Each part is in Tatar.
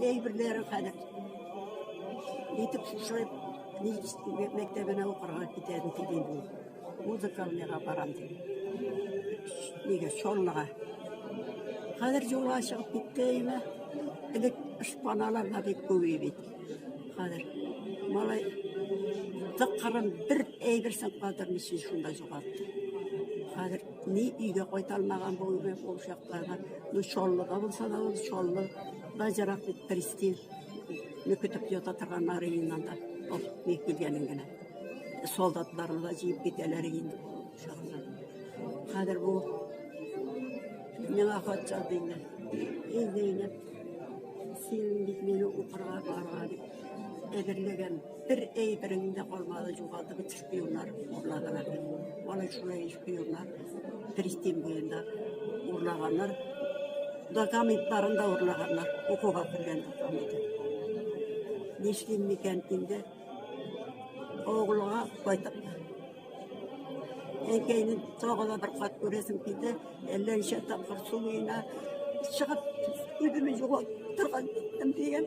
Әйберләре хәзер итеп шушылып, мәктәбенә укырга китәрен телим мин. Музыкалныйга барам дип. Нигә Чаллыга. Хәзер юлга чыгып китте өймә. Элек шпаналар да бик күп бит. Хәзер малай тыккырын бер әйберсен кадермичә шунда югалтты. Хәзер Ни өйгә кайтармаган бу гомер ул чакларга. Ну, Чаллыда булса да, ул Чаллы да ерак бит Престиж. Ну, көтеп ята торган Марининан да. Ул ни килгәнен генә. Солдатларны да җыеп китәләр инде. Чаллы. Хәзер бу миңа хат язды инде. Эй, Зәйнәп, син бит мине укырга барырга дип әзерләгән. Бер әйберем дә калмады, югалды бит шпионнар урлаганнар. Валай шулай шпионнар Пристин буенда урлаганнар. Документларын да урлаганнар. Укуга кергән документы. Нишлим микән инде? Оглуга кайтып. Әйкәйне тагы да бер кат күрәсем килде. Әллә ничә тапкыр су буена чыгып, үземне югалтып торган иттем дигән.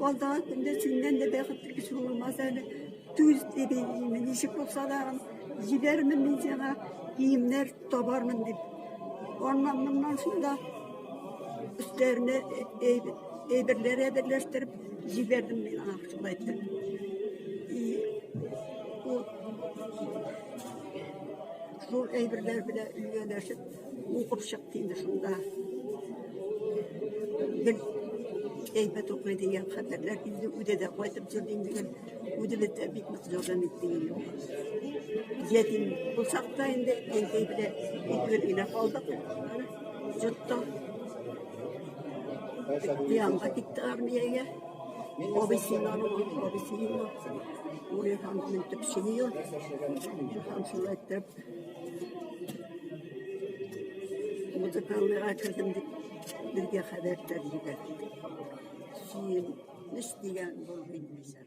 Алдагы көндә синнән дә бәхетле кеше булмас әле. Түз дип әйтимен, ничек булса да җибәрмен мин сиңа, киемнәр табармын дип. Аннан моннан шунда өстәренә әйберләр әйберләштереп җибәрдем мин аңа шулай итеп. И ул шул әйберләр белән өйләнешеп Укып чыкты инде шунда. Гел әйбәт укый дигән хәбәрләр инде үзе дә кайтып торды инде гел. Үзе дә бик нык ярдәм итте инде. Ятим булсак та инде әнкәй белән икебез генә калдык. Җотта. Янга китте армиягә. Абыйсының анамы, абыйсының. Урый ханның төпчене юр. Хан шулай итеп. Музыканлыга кердем дип безгә хәбәр тәрҗибә. Җыелыш дигән булды инде.